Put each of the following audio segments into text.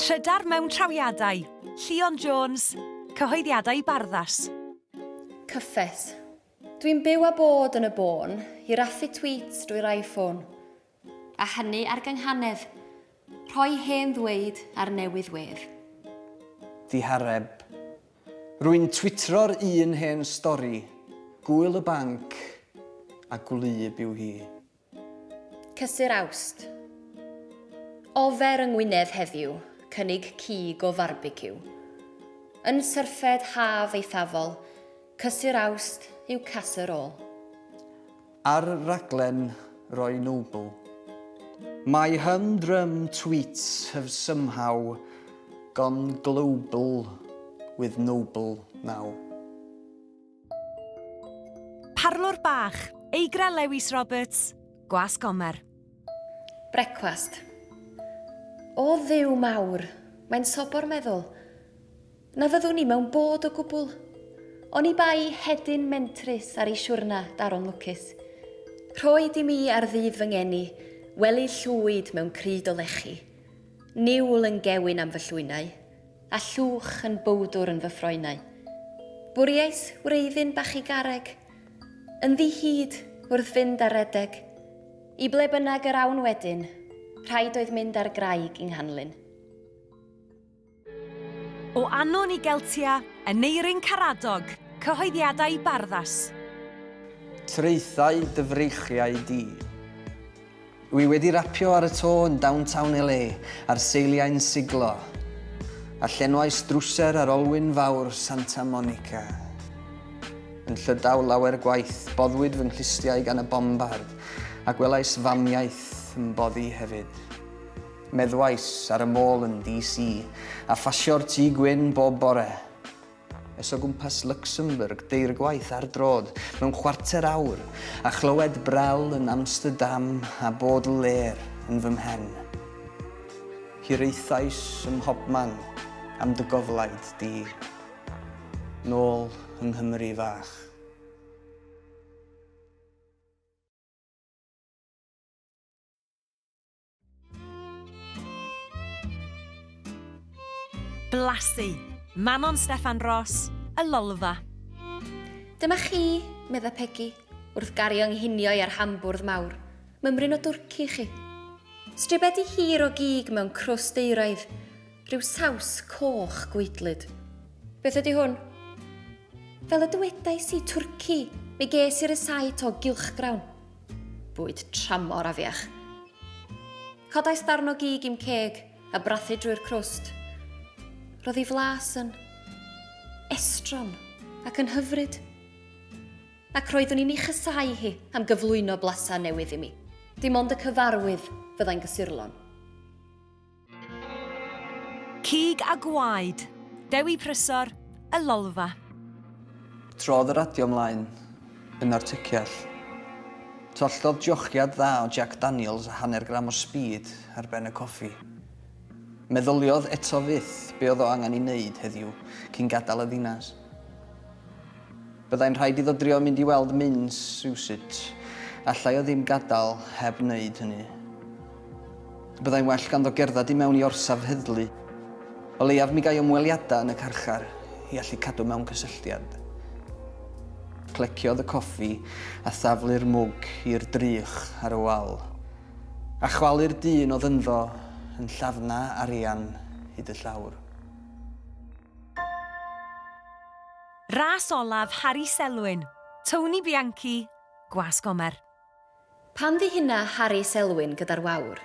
Trydar mewn trawiadau, Llion Jones, cyhoeddiadau i Barddas. Cyffes. Dwi'n byw a bod yn y bôn, i raffu tweets drwy'r iPhone. A hynny ar gynghanedd, rhoi hen ddweud ar newydd wedd. Ddihareb. Rwy'n twitro'r un hen stori, Gŵyl y Banc a gwlyb yw hi. Cysur Awst. Ofer yng Ngwynedd heddiw, cynnig cig o farbeciw. Yn syrffed haf eithafol, Cysur Awst yw Casur Ôl. Ar raglen Roy Noble. My humdrum tweets have somehow gone global with Noble now. Parlwr bach, Eigra Lewis Roberts, Gwas Gomer. Brecwast. O Dduw mawr, mae'n sobor meddwl. Na fyddwn i mewn bod o gwbl. Oni bai hedyn mentrus ar ei siwrna daron lwcus. Rhoi di mi ar ddydd fy ngeni, wely llwyd mewn cryd o lechi. Niwl yn gewyn am fy llwynau. A llwch yn bowdwr yn fy ffroenau. Bwriais wreiddyn bach i garreg. Yn ddi-hid, wrth fynd ar redeg. I ble bynnag yr awn wedyn, rhaid oedd mynd ar graig i Nghanlyn. O Anon i Geltia, Aneurin Caradog, Cyhoeddiadau Barddas. Traethau dy freichiau di. Dw i wedi rapio ar y to yn downtown LA ar seiliau'n siglo, a llenwais drwser ar olwyn fawr Santa Monica. Yn Llydaw lawer gwaith, boddwyd fy nghlustiau gan y bombard, a gwelais famiaith yn boddi hefyd. Meddwais ar y môl yn DC, a phasio'r Tŷ Gwyn bob bore. es o gwmpas Luxembourg deir gwaith ar droad mewn chwarter awr, a chlywed Brel yn Amsterdam a Baudelaire yn fy mhen. Hiraethais ym mhobman am dy goflaid di. Nôl yng Nghymru fach. Blasu! Manon Steffan Ros, Y Lolfa. Dyma chi, medda Pegi, wrth gario nghinioi ar hambwrdd mawr, mymryn o dwrci i chi. Stribedi hir o gig mewn crwst euraidd, rhyw saws coch gweidlyd. Beth ydy hwn? Fel y dywedais i, twrci, mi ges i rysait o gylchgrawn. Bwyd tramor afiach. Codais darn o gig i'm ceg a brathu drwy'r crwst. Roedd ei flas yn estron ac yn hyfryd. Ac roeddwn i'n ei chysau hi am gyflwyno blasau newydd i mi. Dim ond y cyfarwydd fyddai'n gysurlon. Cig a gwaed, Dewi Prysor, Y Lolfa. Trodd y radio mlaen, yn artyciall. Twalltodd jochiad dda o Jack Daniels a hanner gram o speed ar ben y coffi. Meddyliodd eto fyth be oedd o angen ei wneud heddiw cyn gadael y ddinas. Byddai'n rhaid iddo drio mynd i weld Minns rywsut. Allai o ddim gadael heb wneud hynny. Byddai'n well ganddo gerdded i mewn i orsaf heddlu. O leiaf mi gai ymweliadau yn y carchar i allu cadw mewn cysylltiad. Cleciodd y coffi a thaflu'r mwg i'r drych ar y wal. A chwalu'r dyn oedd ynddo yn llafna arian hyd y llawr. Ras olaf Harri Selwyn, Tony Bianchi, Gwas Gomer. Pan ddihuna Harri Selwyn gyda'r wawr,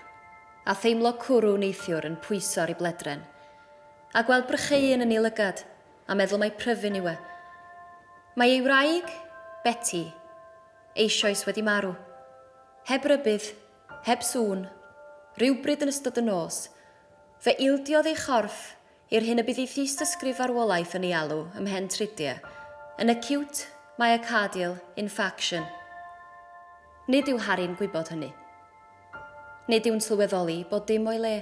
a theimlo cwrw neithiwr yn pwyso ar ei bledren, a gweld brycheuyn yn ei lygad, a meddwl mai pryfyn yw e. Mae ei wraig, Beti, eisioes wedi marw. Heb rybudd, heb sŵn, rywbryd yn ystod y nos, fe ildiodd ei chorff I'r hyn y bydd ei thystysgrif farwolaeth yn ei alw ymhen trudie, yn acute myocardial infarction. Nid yw Harry'n gwybod hynny. Nid yw'n sylweddoli bod dim o'i le.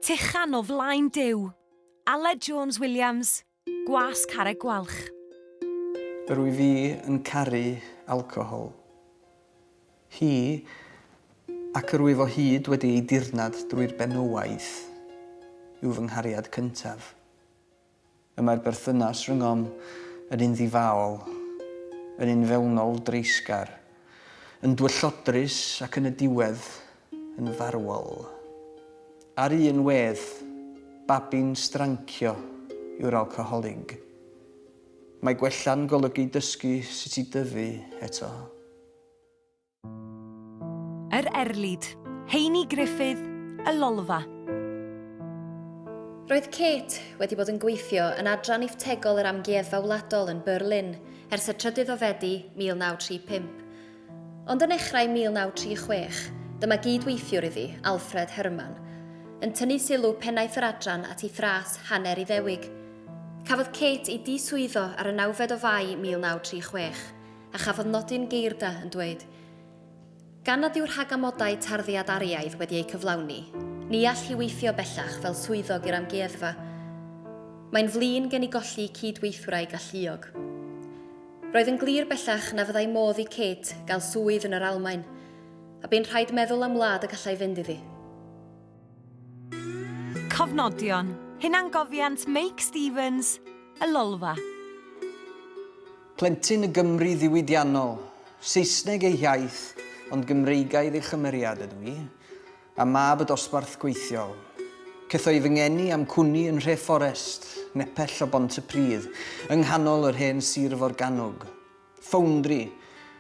Tychan o flaen Duw. Aled Jones Williams, Gwas Carreg Gwalch. Rwy fi yn caru alcohol. Hi, ac yr wyf o hyd wedi ei dirnad drwy'r benywaidd, yw fy nghariad cyntaf. Y mae'r berthynas rhyngom yn un ddifaol, yn un fewnol dreisgar, yn dwyllodrus ac yn y diwedd, yn farwol. Ar un wedd, babi'n strancio yw'r alcoholig. Mae gwella'n golygu dysgu sut i dyfu eto. Yr Erlid, Heini Griffith, Y Lolfa. Roedd Kate wedi bod yn gweithio yn Adran Iftegol yr Amgueddfa Wladol yn Berlin ers y trydydd o Fedi 1935. Ond yn nechrau 1936, dyma gyd-weithiwr iddi, Alfred Herrmann, yn tynnu sylw pennaeth yr adran at ei thras hanner Iddewig. Cafodd Kate ei diswyddo ar y nawfed o Fai 1936. A chafodd nodyn geirda yn dweud, Gan nad yw rhag amodau tarddiad ariaidd wedi eu cyflawni, ni all hi weithio bellach fel swyddog i'r Amgueddfa. Mae'n flin gen i golli cyd-weithwraig galluog. Roedd yn glir bellach na fyddai modd i Kate gael swydd yn yr Almaen, a bu'n rhaid meddwl am wlad y gallai fynd iddi. Cofnodion, Hunangofiant Meic Stevens, Y Lolfa. Plentyn y Gymru ddiwydiannol. Saesneg ei hiaith, ond Gymreigaidd ei chymeriad ydw i, a mab y dosbarth gweithiol. Cethoi fy ngeni a'm cwni yn nhre Fforest, nepell o Bont-y-pridd, yng nghanol yr hen sir forgannwg. Ffowndri,